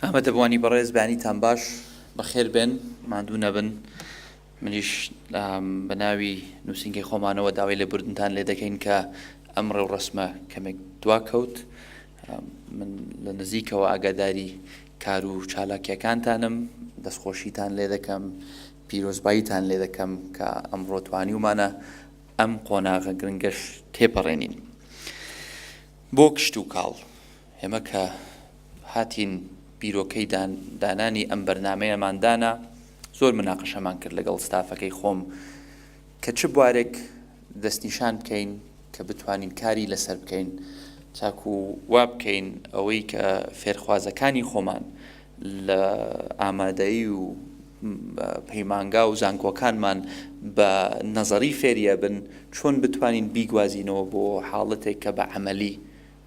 ئامادەبووانی بەڕێز بەیانیتان باش بەخێر بێن ماندوو نەبن منیش بە ناوی نووسنگی خۆمانەوە داوای لە بردنتان لێ دەکەین کە ئەم ڕێوڕسمە کەمێک دوا کەوت من لە نزیکەوە ئاگاداری کار و چالاکیەکانتانم دەستخۆشیتان لێ دەکەم پیرۆزباییتان لێ دەکەم کە ئەمڕۆ توانیومانە ئەم قۆناغە گرنگەش تێپەڕێنین بۆ کشت و کاڵ ئێمە کە هاتین بیرۆکەی دانانی ئەم بەرنامەیەمان دانا زۆر مناقەشەمان کرد لەگەڵ ستافەکەی خۆم کە چ بوارێک دەستنیشان بکەین کە بتوانین کاری لەسەر بکەین تاکو وا بکەین ئەوەی کە فێرخوازەکانی خۆمان لە ئامادەی و پەیمانگا و زانکۆکانمان بە نەزەری فێریە بن چۆن بتوانین بیگوازینەوە بۆ حاڵەتێک کە بە عملی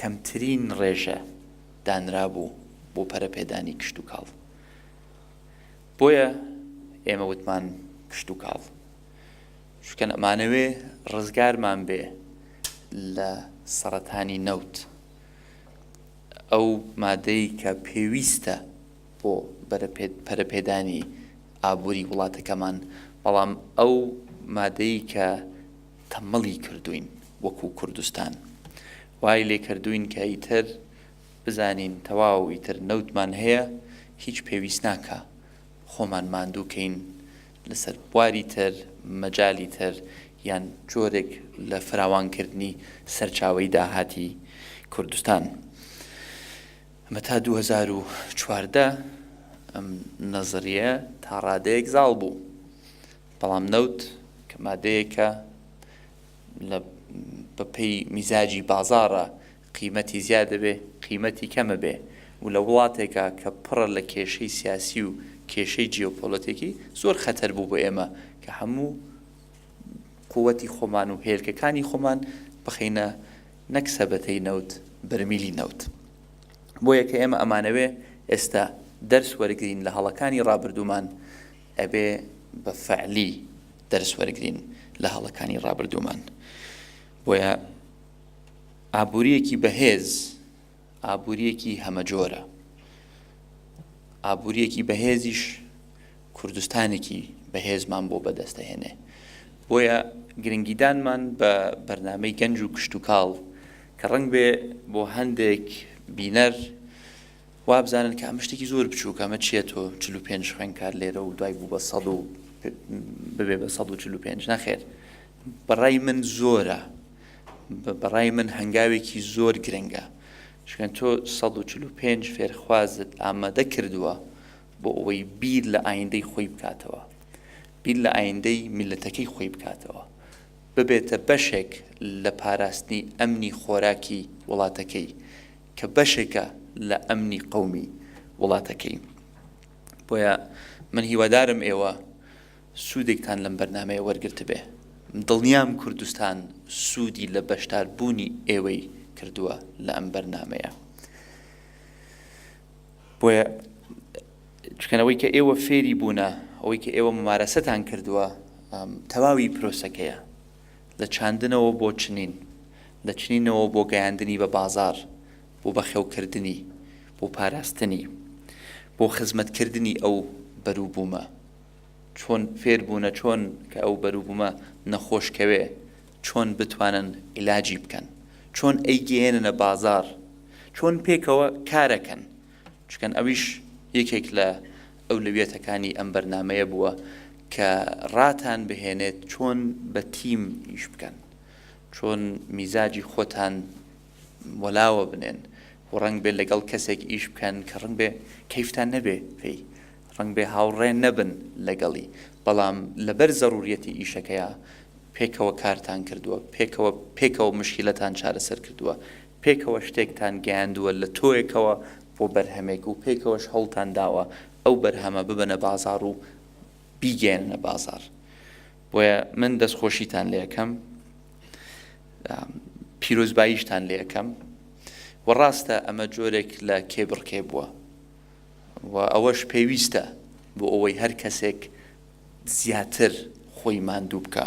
کەمترین ڕێژە دانرابوو بۆ پەرەپێدانی کشتوکاڵ بۆیە ئێمە وتمان کشتوکاڵ شکەن ئەمانەوێ ڕزگارمان بێ لە سەرەتانی نەوت ئەو مادەی کە پێویستە بۆ پەرەپێدانی ئابووری وڵاتەکەمان بەڵام ئەو مادەی کە تەمبەڵی کردووین وەکو کوردستان وای لێکردووین کە ئیتر بزانین تەواو ئیتر نەوتمان هەیە هیچ پێویست ناکە خۆمان ماندوو کەین لەسەر بواری تر مەجای تر یان جۆرێک لە فراوانکردنی سەرچاوی داهاتی کوردستان ئەمە تا 2014 ئەم نەزریە تا ڕادەیەک زاڵ بوو. بەڵام نەوت کە مادەیەکە لە بە پێی میزاجی بازاڕە قیمەتی زیاد دەبێ قیمەتی کەمە بێ و لە وڵاتێکە کە پڕە لە کێشەی سیاسی و کێشەی جیۆپۆلەتێکی زۆر خەتەر بوو بۆ ئێمە کە هەموو قووەتی خۆمان و هێلکەکانی خۆمان بخەینە نەک سەبەتەی نەوت بەرمیلی نەوت بۆیە کە ئێمە ئەمانەوێ ئێستا دەرس وەرگین لە هەڵەکانی ڕابردوومان ئەبێ بە فەعلی دەرس وەرگرین لە هەڵەکانی ڕابردوومان بۆیە ئابووریەکی بەهێز ئابووریەکی هەمەجۆرە ئابووریەکی بەهێزیش کوردستانێکی بەهێزمان بۆ بەدەستەهێنێ بۆیە گرنگیدانمان بە بەرنمەی گەنج و کشتتوکاڵ کە ڕنگ بێ بۆ هەندێک بینەر وابزانن کە ئەمە شتێکی زۆر بچووکە، ئەمە چییە تۆ چل و پێنج خوێندکار لێرە و دوای بوو بە سەد و ببێ بە سەد و چل و پێنج، نەخێر بەڕای من زۆرە، بەڕای من هەنگاوێکی زۆر گرنگە، چونکە تۆ سەد و چل و پێنج فێرخوازت ئامادە کردووە بۆ ئەوەی بیر لە ئایندەی خۆی بکاتەوە، بیر لە ئایندەی میللەتەکەی خۆی بکاتەوە، ببێتە بەشێک لە پاراستنی ئەمنی خۆراکی وڵاتەکەی، کە بەشێکە لە ئەمنی قەومی وڵاتەکەی بۆیە من هیوادارم ئێوە سوودێکتان لەم بەرنمەیە وەرگرتبێ دڵنیام کوردستان سوودی لە بەشدار بوونی ئێوەی کردووە لە ئەم بەرنمەیە بۆیە چکەنەوەی کە ئێوە فێری بوونە ئەوەی کە ئێوە ممارەسەتان کردووە تەواوی پرۆسەکەیە لە چاندنەوە بۆ چنین، لە چنینەوە بۆ گەیاندنی بە بازاڕ، بۆ بەخێوکردنی، بۆ پاراستنی، بۆ خزمەتکردنی ئەو بەروبوومە. چۆن فێربوونە چۆن کە ئەو بەروبوومە نەخۆش کەوێ، چۆن بتوانن ئیلاجی بکەن، چۆن ئەیگەیەننە بازاڕ، چۆن پێکەوە کارەکەن، چکن ئەویش یەکێک لە ئەولەویەتەکانی ئەم بەرنامەیە بووە کە ڕاتان بهێنێت چۆن بە تیم ئیش بکەن چۆن میزاجی خۆتان وەلاوە بنێن و ڕنگ بێت لەگەڵ کەسێک ئیش بکەن کە ڕنگ بێ کەیفتان نەبێ پێی ڕنگ بێ هاوڕێ نەبن لەگەڵی بەڵام لەبەر زەڕوریەتی ئیشەکەیە پێکەوە کارتان کردووە پێکەوە پێکەوە مشکلەتان چارەسەر کردووە پێکەوە شتێکتان گەیاندووە لە تۆیەکەوە بۆ بەرهەمێک و پێکەوەش هەوڵتان داوە ئەو بەرهەمە ببەنە بازاڕ و بیگەیەننە بازاڕ بۆیە من دەستخۆشیتان لێ ئەکەم پیرۆزباییشتان لێ ئەکەم و ڕاستە ئەمە جۆرێک لە کێبڕکێ بووە و ئەوەش پێویستە بۆ ئەوەی هەر کەسێک زیاتر خۆی ماندوو بکە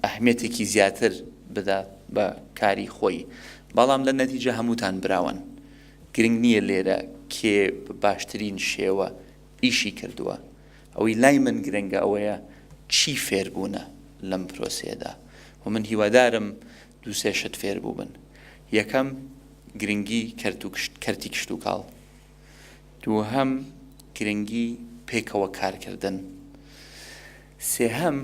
ئەهمیەتێکی زیاتر بدات بە کاری خۆی بەڵام لە نەتیجە هەمووتان براوەن گرنگ نییە لێرە کێ باشترین شێوە ئیشی کردووە ئەوەی لای من گرنگە ئەوەیە چی فێربوونە لەم پرۆسێدا و من هیوادارم دووسێ شت فێربوو بن یەکەم گرنگی کەرتی کشت و کاڵ دووهەم، گرنگی پێکەوە کارکردن. سێهەم،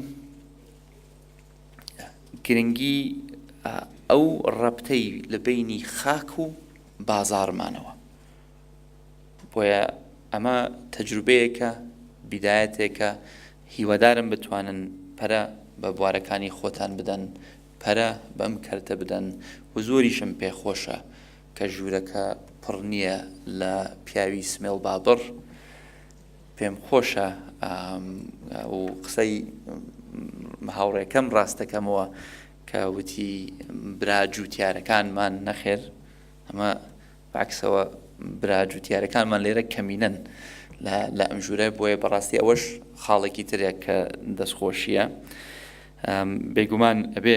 گرنگی ئەو ڕەپتەی لە بەینی خاک و بازاڕمانەوە. بۆیە ئەمە تەجروبەیەکە، بیدایەتێکە، هیوادارم بتوانن پەرە بە بوارەکانی خۆتان بدەن، پەرە بەم کەرتە بدەن و زۆریشم پێخۆشە کە ژوورەکە پڕ نییە لە پیاوی سمێڵ بابڕ پێم خۆشە و قسەی هاوڕێکەم ڕاستەکەمەوە کە وتی برا جووتارەکانمان نەخێر ئەمە باکسەوە برا جووتارەکانمان لێرە کەمینەن لە ئەم ژوورە بۆیە بەڕاستی ئەوەش خاڵێکی ترێک کە دەستخۆشیە بێگومان ئەبێ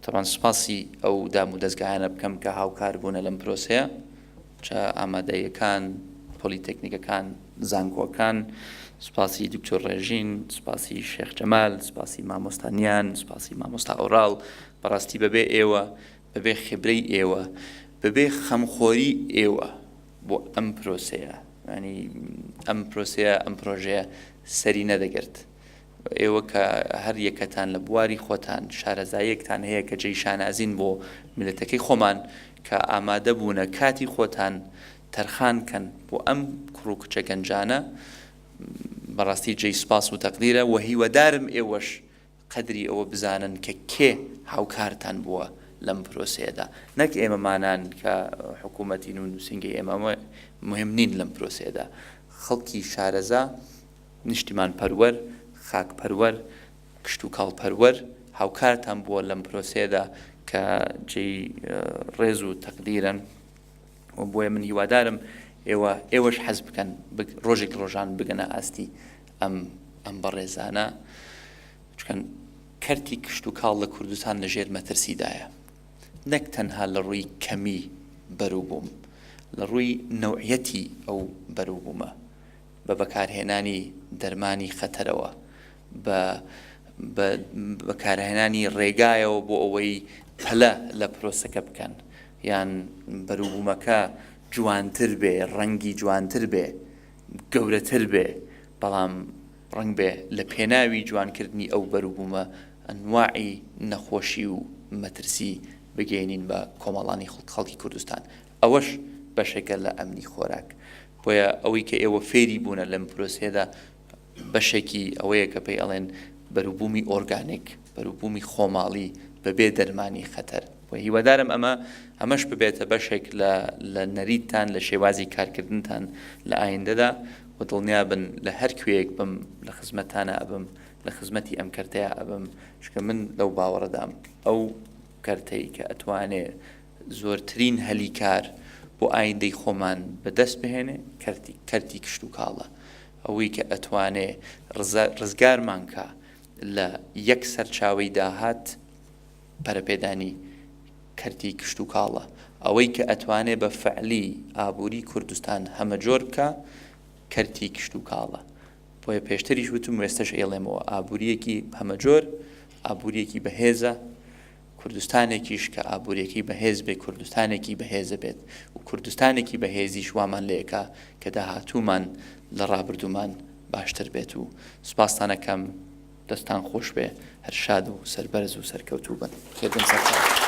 تەبان سوپاسی ئەو دام و دەستگایانە بکەم کە هاوکار بوونە لەم پرۆسەیە چە ئامادەیەکان پۆلیتەکنیکەکان زانکۆکان سوپاسی دکتۆر ڕێژین سوپاسی شێخ جەمال سوپاسی مامۆستانیان سوپاسی مامۆستا ئۆراڵ بەڕاستی بەبێ ئێوە بەبێ خبرەی ئێوە بەبێ خەمخۆری ئێوە بۆ ئەم پرۆسەیە ینی ئەم پرۆسەیە ئەم پرۆژەیە سەری نەدەگرت ئێوە کە هەر یەکەتان لە بواری خۆتان شارەزاییەکتان هەیە کە جێی شانازین بۆ میللەتەکەی خۆمان کە ئامادەبوونە کاتی خۆتان تەرخان کەن بۆ ئەم کوڕ و کچە گەنجانە بەڕاستی جێی سوپاس و تەقدیرە و هیوادارم ئێوەش قەدری ئەوە بزانن کە کێ هاوکارتان بووە لەم پرۆسەیەدا نەک ئێمەمانان کە حکوومەتین و نووسنگی ئێمە مهم نین لەم پرۆسەیەدا خەڵکی شارەزا نیشتیمانپەروەر، خاکپەروەر، کشتوکاڵپەروەر هاوکارتان بووە لەم پرۆسەیەدا کە جێی ڕێز و تەقدیرن و بۆیە من هیوادارم ئێوە ئێوەش حەز بکەن ڕۆژێک ڕۆژان بگەنە ئاستی ئەم ئەم بەڕێزانە چکەن کەرتی کشت و کاڵ لە کوردستان لە ژێر مەترسیدایە نەک تەنها لە ڕووی کەمی بەروبووم لە ڕووی نەوعەتی ئەو بەروبوومە بە بەکارهێنانی دەرمانی خەتەرەوە، بە بە بەکارهێنانی ڕێگایەوە بۆ ئەوەی پەلە لە پرۆسەکە بکەن، یان بەروبوومەکە جوانتر بێ، ڕەنگی جوانتر بێ، گەورەتر بێ، بەڵام ڕەنگ بێ لە پێناوی جوانکردنی ئەو بەروبوومە ئەنواعی نەخۆشی و مەترسی بگەیەنین بە کۆمەڵانی خڵکی کوردستان. ئەوەش بەشێکە لە ئەمنی خۆراک، بۆیە ئەوەی کە ئێوە فێری بوونە لەم پرۆسەیەدا بەشێکی ئەوەیە کە پێی ئەڵێن بەروبوومی ئۆرگانیک، بەروبوومی خۆماڵی بەبێ دەرمانی خەتەر. و هیوادارم ئەمە ئەمەش ببێتە بەشێک لە لە نەریتتان لە شێوازی کارکردنتان لە ئایندەدا و دڵنیا بن لە هەر کوێیەک بم لە خزمەتتانا ئەبم، لە خزمەتی ئەم کەرتەیا ئەبم، چونکە من لەو باوەڕەدام ئەو کەرتەی کە ئەتوانێ زۆرترین هەلی کار بۆ ئایندەی خۆمان بەدەست بهێنێ کەرتی کەرتی کشتوکاڵە ئەوەی کە ئەتوانێ ڕزا ڕزگارمان کا لە یەک سەرچاوەی داهات پەرەپێدانی کەرتی کشتوکاڵە ئەوەی کە ئەتوانێ بە فەعلی ئابووری کوردستان هەمەجۆر بکا کەرتی کشتوکاڵە بۆیە پێشتریش وتم وێستەش ئێڵێمەوە ئابووریەکی هەمەجۆر ئابووریەکی بەهێزە کوردستانێکیش کە ئابوورییەکەی بەهێز بێت، کوردستانێکی بەهێزە بێت و کوردستانێکی بەهێزیش وامان لێ ئەکا کە داهاتوومان لە ڕابردوومان باشتر بێت و سوپاستان ئەکەم، دەستان خۆش بێ، هەر شاد و سەربەرز و سەرکەوتوو بن. خێربێن سەرکەوتوو.